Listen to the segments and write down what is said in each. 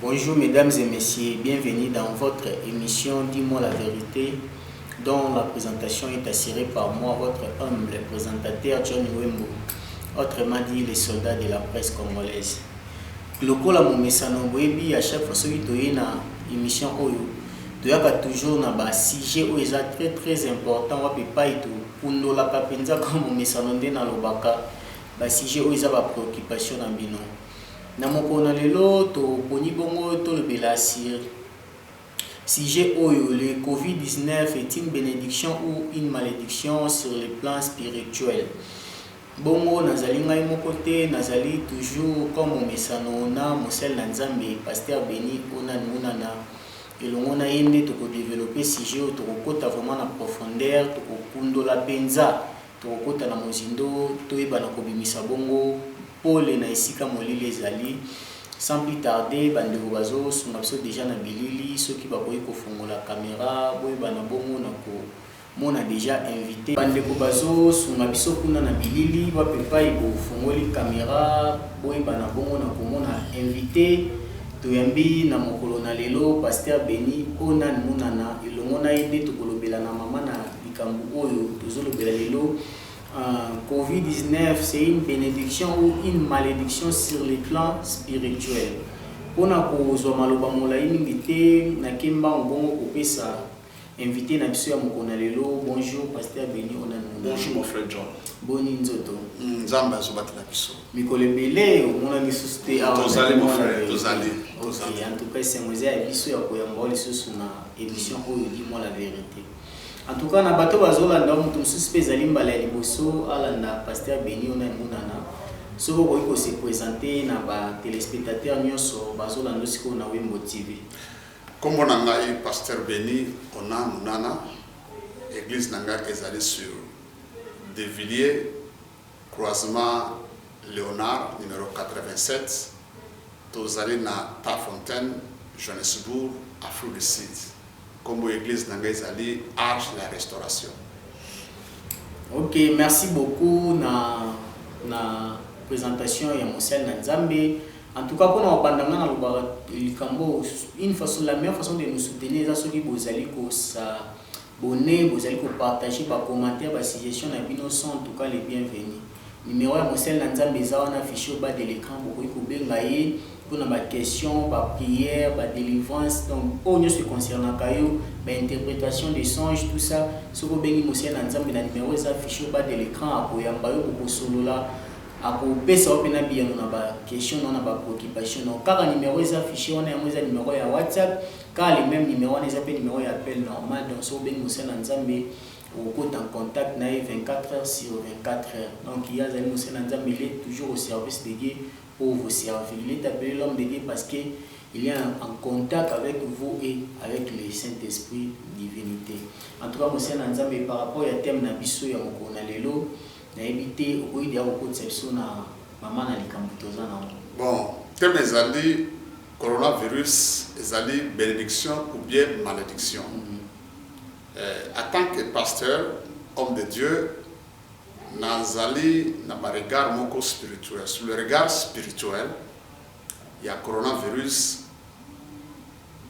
Bonjour mesdames et messieurs, bienvenue dans votre émission Dis-moi la vérité dont la présentation est assurée par moi, votre humble présentateur John Wembo, autrement dit les soldats de la presse congolaise. lokola momesano boyebi à chaque fois soki toye na émission oyo toyaka toujours na basujet oyo eza très très important wapi epai tokundolaka mpenza kaka momesano nde nalobaka ba sujets oyo eza ba preoccupations na bino. Na mokolo na lelo, toponi bongo tolobela sur sujet oyo, Le Covid 19 est une benediction ou une malediction sur le plan spirituel? Bongo nazali ngai moko te, nazali toujours comme momesano na mosali na Nzambe Pasteur Beni Onan Munana. Elongo na ye nde toko developper sujet oyo, tokokota vraiment na profondeur, tokokundola penza Tokokota na mozindo, toyeba na kobimisa bongo pole na esika molili ezali. Sans plus tarder, ba ndeko bazo sunga biso dejà na bilili, soki bakoki kofongola camera boyeba na bongo na ko mona dejà invite. Ba ndeko bazo sunga biso kuna na bilili, wapi epayi bo fongoli camera boyeba na bongo na ko mona invite toyambi na mokolo na lelo, Pasteur Beni Onan Munana, elongo na ye nde tokolobela na mama na. Likambo oyo tozo lobela lelo covid 19 c'est une benediction ou une malediction sur le plan spirituel. Pona kozwa maloba molayi mingi te na kimbangu bongo kopesa invité na biso ya mokolo na lelo bonjour pasteur Beni Onan. Bonjour mon frère John. Boni nzoto. Hmm, Nzambe azobatela biso. Mikolo ebele omona lisusu te awa. Tozali mon frère, tozali. Okay, en tout cas esengo eza ya biso ya koyamba lisusu na émission oyo dit moi la vérité. En tout cas na bato bazo landa mutu mususu pe ezali mbala ya liboso alanda pasteur Beni ona emonana soki okoki ko se presente na ba telespectateurs nionso bazo landa yo sikoyo na wimbo TV. Kombo na ngai pasteur Beni ona munana eglise na ngai ezali sur de villiers. Croisement Leonard numero 87, Tozali na Tarfontaine, Johannesburg, Afrique du Sud. Kombo ya eglise na ngai ezali Arche de la Restauration. Ok, merci beaucoup na na presentation ya mosali na Nzambe. En tout cas, pona obanda nga na lobaka likambo une façon la meilleure façon de nous soutenir eza soki bozali ko sa Bonne bozali ko partager ba commentaires ba suggestions na bino sont en tout cas les bienvenues. Numero ya mosali na Nzambe eza wana affiche au bas de l'ecran bokoki kobenga ye pona ba questions, ba prières, ba delivrances donc oyo nionso e concernaka yo, ba interpretations de songes tout ça soki obengi mosali na Nzambe na numero eza affiche au bas de l'ecran akoyamba yo bokosolola akopesa yo pena biyano na ba questions na yo na ba preoccupations na yo kaka numero eza affiche wana yango eza numero ya WhatsApp. Kaka le meme numero wana eza pe numero ya appel normal donc soki obengi mosali na Nzambe okokota en contact na ye 24 heures sur 24 heures donc ye azali mosali na Nzambe il est toujours au service de Dieu pour vous servir il est appele l'homme de Dieu parce que il est en contact avec vous et avec le Saint Esprit divinite en tout cas mosali na Nzambe par rapport ya thème na biso ya mokolo na lelo nayebi te okoki deya kokotisa biso na mama na likambo toza na yango bon thème ezali Coronavirus ezali benediction ou bien malediction? Eh, en tant que pasteur, homme de Dieu, nazali na ba regards moko spirituel. Sur le regard spirituel ya coronavirus,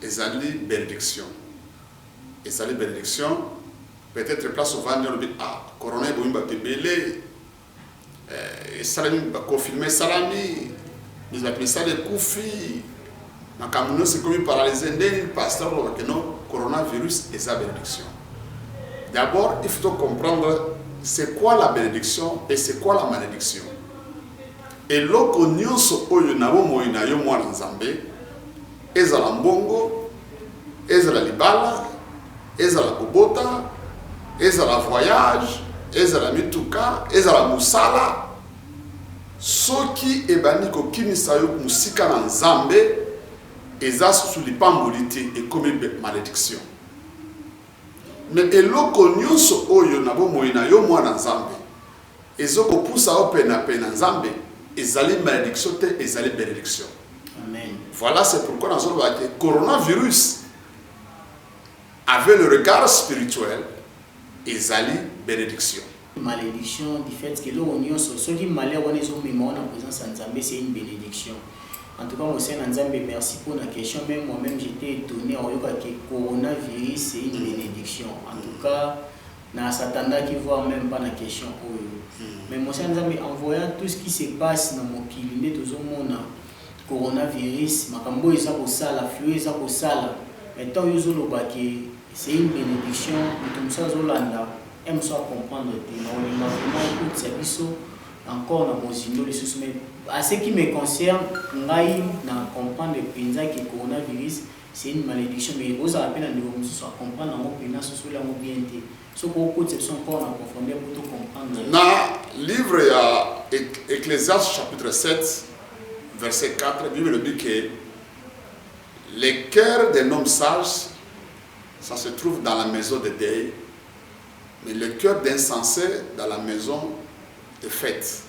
ezali benediction. Ezali benediction, peut-etre place ovandi olobi ah, corona ebomi batu ebele, eh, esalami baconfinement esalami mizapi misala ekufi makambo nyonso ekomi paralyse nde nini pasteur oloba keno coronavirus eza benediction d'abord il faut comprendre c'est quoi la benediction et c'est quoi la malédiction eloko nyonso oyo na bomoi na yo mwana nzambe Ezala mbongo, ezala libala, ezala kobota, ezala voyage, ezala mituka, ezala mosala, soki ebandi kokimisa yo mosika na Nzambe, eza susu lipamboli te, ekomi malediction. Mais eloko nionso oyo na bomoi na yo, mwana Nzambe, Ezo ko pusa yo pena pena nzambe ezali malediction te ezali benediction voila c'est pourquoi nazo loba ke corona virus avec le regard spirituel ezali benediction malédiction du fait que eloko nyonso soki malheur wana ezomema wana présence ya nzambe c'est une bénédiction en tout cas mosai na nzambe merci mpo na question même moi-même j'étais étonné aoyoka ke coronavirus c'est une bénédiction en tout cas Na s'attendaki voir meme pas na question oyo mais mon cher nzambe en voyant tout ce qui se passe na mokili nde tozo mona corona virus makambo oyo eza kosala flux oyo eza kosala mais temps yo ozo loba que c'est une benediction moto mosusu azo landa et mosusu a comprendre te nako linga vraiment okotisa biso encore na bozindo lisusu mais à ce qui me concerne ngai na comprendre penza que corona virus C'est une malediction mais ozala pe na ndeko mususu a comprendre yango pena asosoli yango bien te soki okotisa biso encore na profondeur po to comprendre nayo. Na livre ya Ecclesiastes chapitre 7 verset 4 bible elobi ke le cœur d'un homme sage ça se trouve dans la maison de deuil mais le cœur d'insensé dans la maison de fête.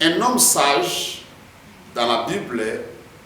Un homme sage dans la bible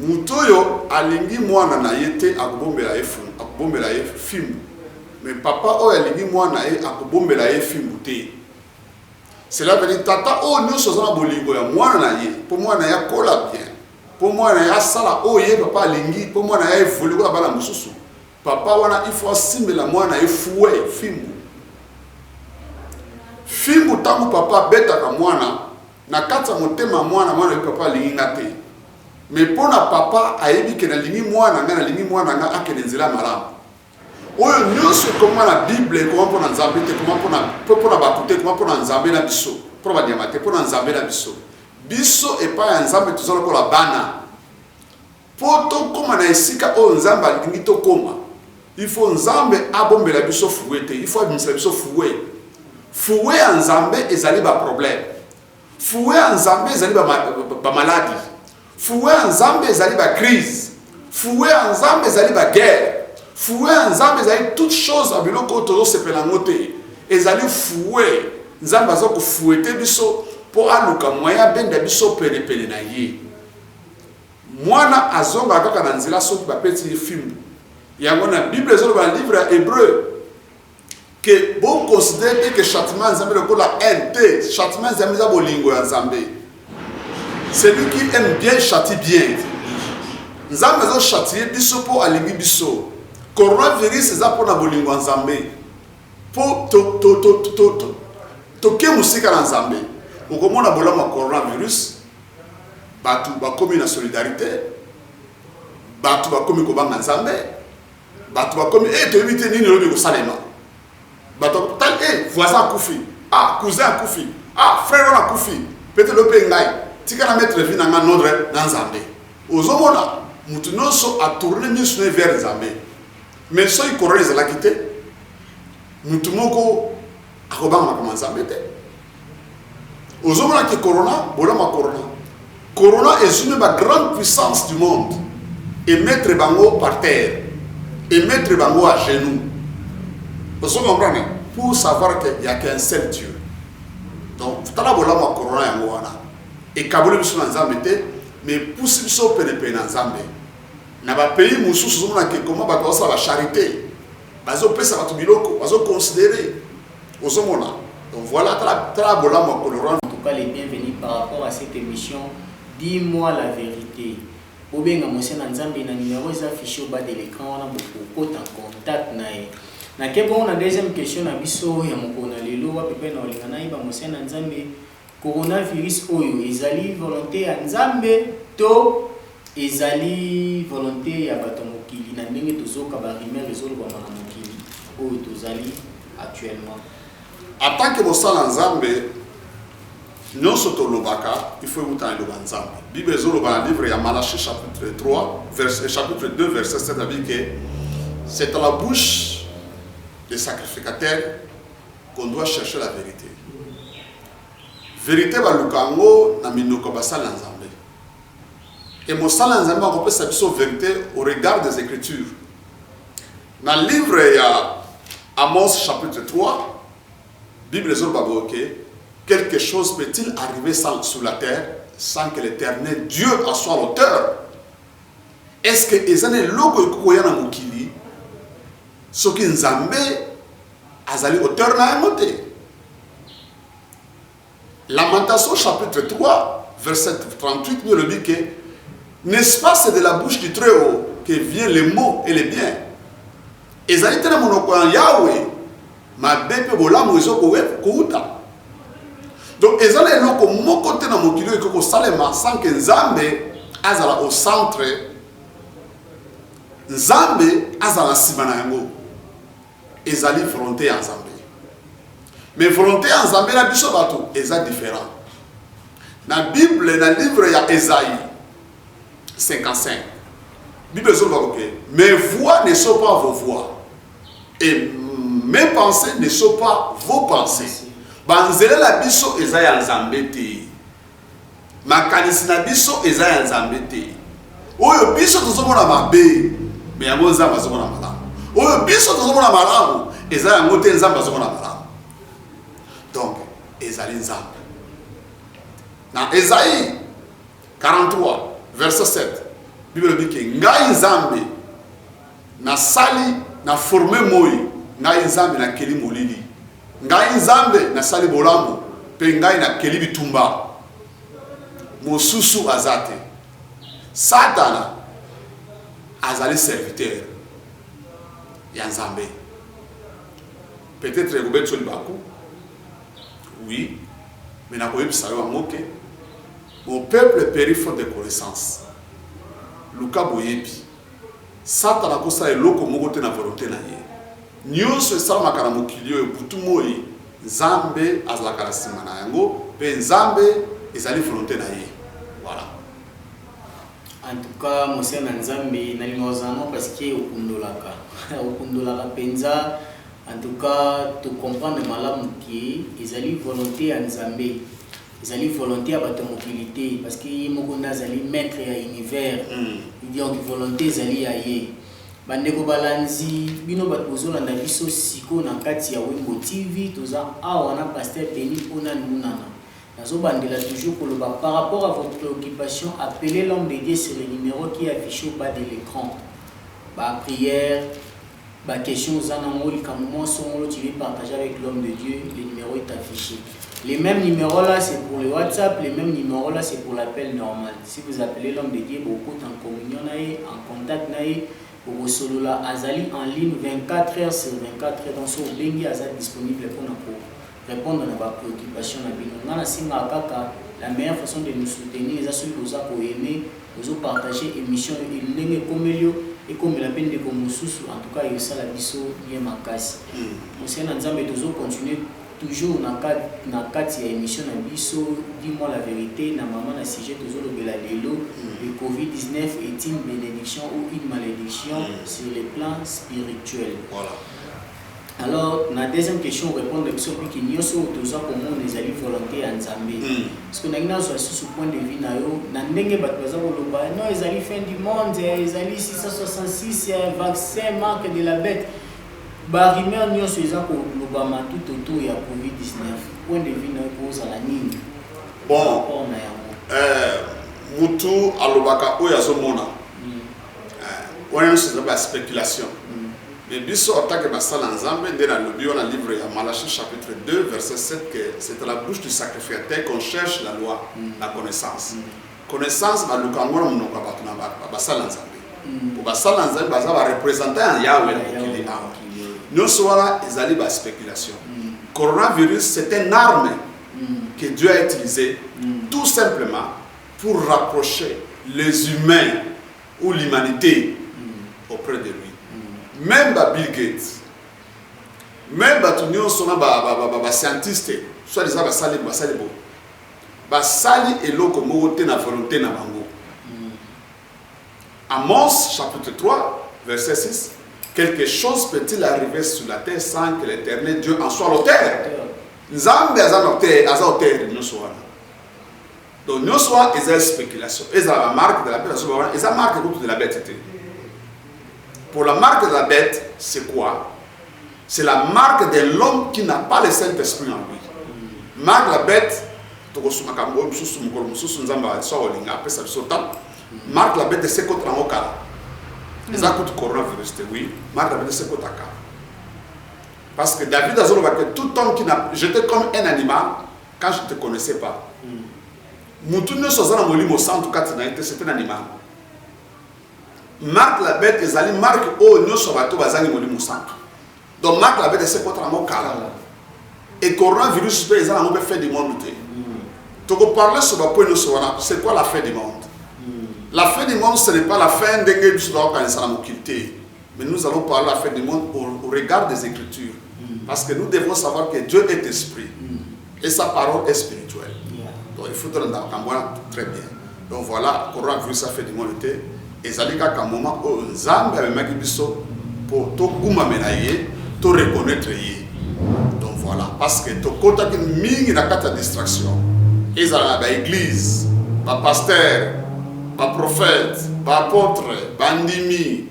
Moto oyo alingi mwana na ye te akobombela ye fimbu, akobombela ye fimbu. Mais papa oyo alingi mwana na ye akobombela ye fimbu te. Cela veut dire tata oyo nyonso aza na bolingo ya mwana na ye mpo mwana na ye akola bien, mpo mwana na ye asala oyo ye papa alingi, mpo mwana na ye evolue lokola bana mosusu. Papa wana il faut asimbela mwana na ye fouet, fimbu. Fimbu ntango papa abetaka mwana Na kati ya motema ya mwana, mwana ayebi papa alingi nga te. Mais po na papa ayebi ke nalingi mwana nga, nalingi mwana nga akende nzela ya malamu. Oyo nionso ekoma na bible ekoma po na Nzambe te, ekoma po na po po na batu te, ekoma po na Nzambe na biso. Po na ba nyama te, po na Nzambe na biso. Biso epai ya Nzambe toza lokola bana. Po tokoma na esika oyo Nzambe alingi tokoma, il faut Nzambe abombela biso fouet te, il faut abimisa biso fouet. Fouet ya Nzambe ezali ba problèmes. Fouet ya Nzambe ezali ba, ba maladi. Fouet ya Nzambe ezali ba crise. Fouet ya Nzambe ezali ba guerre. Fouet ya Nzambe ezali toute chose ya biloko oyo tozosepela yango te. Ezali fouet. Nzambe aza kofouete biso mpo aluka moyen abenda biso penepene na ye. Mwana azongaka kaka na nzela soki bapeti ye fimbu. Yango na Bible ezoloba na livre ya Hebreu ke bo considere te ke châtiment ya Nzambe lokola haine te, châtiment ya Nzambe eza bolingo ya Nzambe. Celui qui aime bien châtie bien. Nzambe azo châtier biso mpo alingi biso. Coronavirus eza mpo na bolingo ya Nzambe. Mpo to to to to to toke mosika na Nzambe. Okomona bolamu ya coronavirus Batu bakomi na solidarite, batu bakomi kobanga Nzambe, batu bakomi eh, toyebi te nini lobi kosalema. Batu tal eh, voisin akufi, ah cousin akufi, ah frère wana akufi, pete lope ngai tika na mettre vie na ngai nodre na Nzambe. Ozomona mutu nyonso atourne miso na vers Nzambe. Mais soki corona ezalaki te, mutu moko akobanga makambo ya Nzambe te. ozomona ke corona bolama corona corona ezwi mpe ba grande puissance du monde emettre bango par terre emettre bango à genoux ozo comprendre pour savoir que ya qu'un seul dieu donc tala bolamu ya corona yango wana ekaboli biso na nzambe te mais epusi biso penepene na nzambe na bapays mosusu ozomona ke koma bato basala bacharité Bazo pesa batu biloko bazo considere ozo mona donc voila tala tala bolamu ya colorant. En tout cas le bienvenu par rapport à cette emission dis moi la verite bobenga mose na nzambe na numero eza affiche au bas de l'ecran wana bokokota contact na ye nake bongo na deuxième question na biso ya mokolo na lelo wapi pe na olinga nayeba mose na nzambe Coronavirus oyo ezali volonte ya Nzambe to ezali volonte ya bato ya mokili na ndenge tozoyoka ba rumeurs ezolobama na mokili oyo tozali actuellement? En tant que bosala Nzambe, nionso tolobaka il faut ewuta na liloba ya Nzambe. Bible ezoloba na livre ya Malachie chapitre 3 verset chapitre 2 verset 7 alobi que c'est à la bouche des sacrificateurs qu'on doit chercher la verite verite baluka yango na minoko basali na nzambe e mosali na nzambe akopesa biso verite au regard des écritures na livre ya amos chapitre 3 bible ezoloba boye ke quelque chose peut-il arriver sans, sur la terre sans que l'éternel dieu en soit l'auteur est ce que eza na eloko ekoki koya na mokili soki nzambe Azali auteur na yango te. Lamentation chapitre 3 verset 38 nous le dit que n'est-ce pas c'est de la bouche du très haut que vient les mots et les biens. Ezali te na monoko ya Yahweh mabe mpe bolamu ezo kouta donc eza na eloko moko te na mokili oyo ekoki kosalema sans que nzambe azala au centre nzambe azala nsima na yango ezali volonte ya Nzambe. Mais volonte ya Nzambe na biso bato eza different. Na Bible na livre ya Esaïe 55. Bible ezoloba que mes voix ne sont pas vos voix et mes pensées ne sont pas vos pensées. Banzela na biso eza ya Nzambe te. makanisi na biso eza ya nzambe te oyo biso tozomona mabe me yango nzambe azomona malamu oyo biso tozomona malamu eza yango te nzambe azomona malamu donc ezali nzambe na ezai 43 verset 7 bible elobi ke ngai nzambe nasali na forme moi ngai nzambe nakeli molili Ngai Nzambe nasali bolamu, mpe ngai nakeli bitumba, mosusu aza te. Satana azali serviteur ya Nzambe. Peut-etre ekobetisa libaku, oui, mais nakoyebisa yo yango ke mon peuple peri faute de connaissance. Luka boyebi. Satana akosala eloko moko te na volonte na ye. Nyonso esalamaka na mokili oyo, butu moi, Nzambe azalaka na sima na yango, pe Nzambe ezali volonte na ye. Voilà. En tout cas mon sœur na nzambe nalingaka ozala mwa parce que okundolaka okundolaka penza en tout cas to comprendre malamu que ezali volonte ya nzambe. Ezali volonte ya bato ya mokili te, parce que ye moko nde azali maitre ya univers, donc volonte ezali ya ye. Bandeko balanzi bino bato bozolanda biso sikoyo na kati ya Wimbo TV, toza awa na Pasteur Denis Pona Lunana. Nazobandela toujours koloba par rapport à vos preoccupations, appelez l'homme de Dieu sur le numero qui est affiche au bas de l'ecran. Ba prières, Ba question oza na ngo likambo mwa songolo tu veux partager avec l'homme de Dieu le numero est affiche le meme numero la c'est pour le WhatsApp le meme numero la c'est pour l'appel normal si vous appelez l'homme de Dieu bokota en communion na ye en contact na ye bokosolola azali en ligne 24 heures sur 24 heures donc soki obengi aza disponible pona ko repondre na ba preoccupations na bino nga na sengaka kaka la meilleure façon de nous soutenir eza soki boza ko aimer bozo partager emission oyo ndenge ekomeli yo ekomela pe ndeko mosusu en tout cas esala biso bien makasi conseil na nzambe tozo continuer toujours na kati na kati ya emission na biso dis moi la verite na maman na sujet tozo lobela lelo le covid 19 est une benediction ou une malediction sur le plan spirituel. Alors na deuxième question repondre biso piki nioso oyo toza komona ezali volonte ya Nzambe parce que nalingi nazwa lisusu point de vue na yo na ndenge bato baza koloba non ezali fin du monde ezali 666 vaccin marque de la bête ba rumeur nioso eza kolobama tout autour ya covid 19 point de vue na yo kozala nini bon rapport na yango euh, mutu alobaka oyo azomona wana nyonso eza ba spéculation Mais biso en tant que ba sali ya Nzambe nde na lobi wana livre ya Malachie chapitre 2 verset 7 que c'est à la bouche du sacrificateur qu'on cherche la loi la connaissance connaissance ba luka ngo na munoko ya batu na ba ba sali ya Nzambe po ba sali ya Nzambe baza ba representant ya Yahweh na mokili awa nionso wana ezali ba speculation coronavirus c'est un arme que Dieu a utilisé tout simplement pour rapprocher les humains ou l'humanite auprès de lui meme ba Bill Gates meme bato nyonso na bascientiste soit disant basali basali bo basali eloko moko te na volonté na bango Amos chapitre 3 verset 6 quelque chose peut-il arriver sur la terre sans que l'éternel Dieu en soit l'auteur nzambe aza na auteur aza auteur nyonso wana Donc nionso wana eza speculation. Ezala ba marque de la bête asoba wana eza marque kutu de la bête te. Pour la marque de la bête, c'est quoi C'est la marque de l'homme qui n'a pas le Saint-Esprit en lui. Marque de la bête, tokosumaka mbo mosusu mokolo mosusu nzambe aso olinga apesa biso ntango marque la bête esekota yango kala eza kutu coronavirus te oui marque la bête esekota kala parce que david azoloba que tout homme qui n'a jeté comme un animal Quand je te connaissais pas mutu nionso aza na molimo santu kati na ye te c'est un animal marque la bête ezali marque oyo nionso bato bazangi molimo santu donc marque la bête esekota nango kala et coronavirus mpe eza nango mpe fin du monde te tokoparle sur bapoint nyonso wana c'est quoi la fin du monde la fin du monde ce n'est pas la fin ndenge biso tokokanisa na mokili te Mais nous allons parler la fin du monde au, au regard des Écritures. Mm. Parce que nous devons savoir que Dieu est esprit. Mm. Et sa parole est spirituelle. Yeah. Donc il faut te rendre très bien. Donc voilà, coronavirus a fait du monde était. ezali kaka moment oyo nzambe amemaki biso mpo tokumamela ye to reconnaître ye donc voilà parce que tokotaki mingi na kati ya distraction ezala na baeglise bapaster baprophète baapôtre bandimi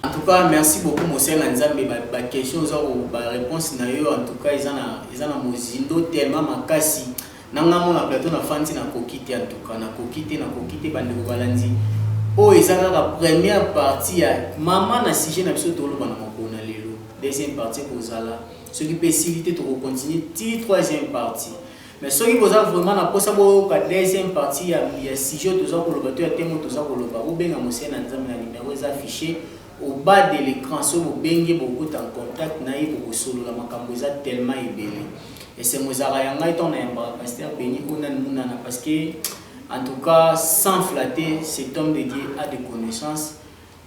En tout cas merci beaucoup mosali na nzambe ba question oza ko ba reponse na yo en tout cas eza na eza na mozindo tellement makasi na nga mona plateau na fandi na koki te en tout cas na koki te na koki te bande ko balandi oyo oh, eza kaka première partie ya mama na sujet na biso toloba na mokolo na lelo deuxième partie ekozala soki mpe esili te tokokontinue ti troisième partie Mais soki boza vraiment na posa boyoka deuxième partie ya, ya sujet oyo toza koloba to ya temo toza koloba, bobenga Mose na Nzambe na numero eza affiche au bas de l'ecran. Soki bobengi ye bokokota en contact na ye bokosolola makambo eza tellement ebele. Esengo ezalaka ya ngai ntango nayambaka Pasteur Beni oyo nani munana parce que en tout cas sans flatter cet homme de Dieu a des connaissances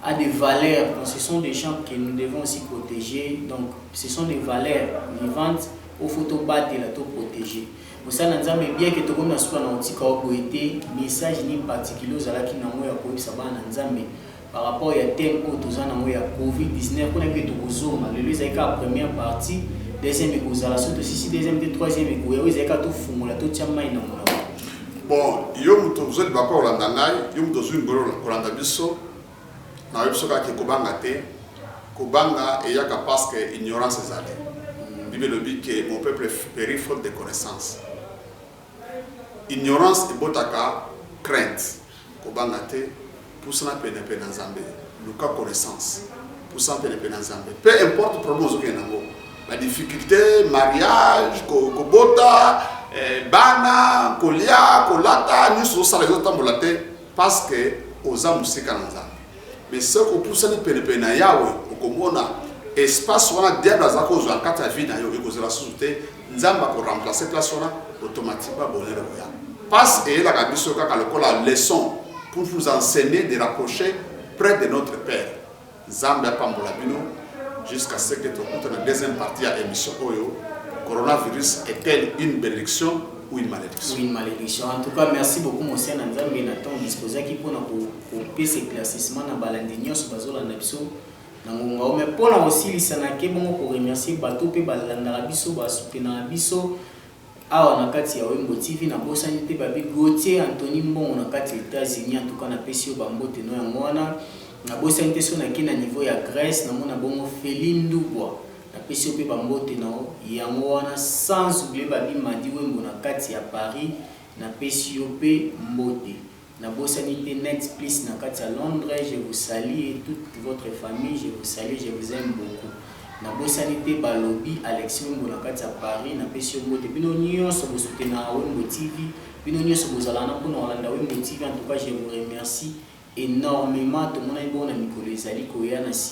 a des valeurs donc ce sont des gens que nous devons aussi proteger donc ce sont des valeurs vivantes oyo faut tobatela to proteger mosala na nzambe bien ke tokomi na suka na kotika yo boye te message nini particulier ozalaki na yango ya koyebisa bana na nzambe par rapport ya thème oyo toza na yango ya covid-19 mpona mpe tokozonga lelo ezali kaka première partie deuxième ekozala soki tosisi deuxième te troisième ekoya oyo ezali kaka tofungola totya mai na moto Bon yo mutu ozo liba ko landa ngai yo mutu ozui ngolu kolanda biso na yo biso kaka ke kobanga te kobanga eyaka pasque ignorance ezali bible elobi ke mon peuple peri faute de connaissance ignorance ebotaka crainte Kobanga te, pusana pene pene na Nzambe, luka connaissance, pusana pene pene na Nzambe, peu importe problème ozo kende nango, ba difficulte, mariage, ko kobota, eh, bana, kolia, kolata, nionso ozo sala ezo tambola te, parce que oza mosika na Nzambe. Mais soki opusani pene pene na Yahweh, okomona espace wana diable aza kozua na kati ya vie na yo ekozala susu te, Nzambe ako remplacer place wana automatiquement bonheur ekoya. Passe eyelaka biso kaka lokola leçon pour vous enseigner de rapprocher près de notre Père. Nzambe apambola bino jusqu'à ce que tokuta na deuxième partie ya emission oyo coronavirus est-elle une bénédiction ou une malédiction. Ou une malédiction. En tout cas, merci beaucoup mon Seigneur Nzambe na temps disposaki pona ko ko pesa éclaircissement na balandi nyoso bazolanda biso. na ngonga oyo mais pona kosilisa na ke bongo ko remercier bato pe balandaka biso ba soutenaka biso awa na kati ya wembo TV na bosani te babi Gauthier Anthony mbongo na kati ya etats unis en tout cas na pesi yo ba mbote no yango wana na bosani te so na ke na niveau ya Grèce na mona bongo Feli Ndubwa na pesi yo pe ba mbote na yango wana sans oublier babi Madi wembo na kati ya Paris na pesi yo pe mbote Na bosani te net plus na kati ya londre je vous salut et toute votre famille je vous salut je vous aime beaucoup na bosani te balobi Alexis wembo na kati ya Paris na pesi yo mbote bino nionso bo soutenaka wembo TV bino nionso bozalaka na pona kolanda wembo TV en tout cas je vous remercie enormement tomonani bongo na mikolo ezali koya na sima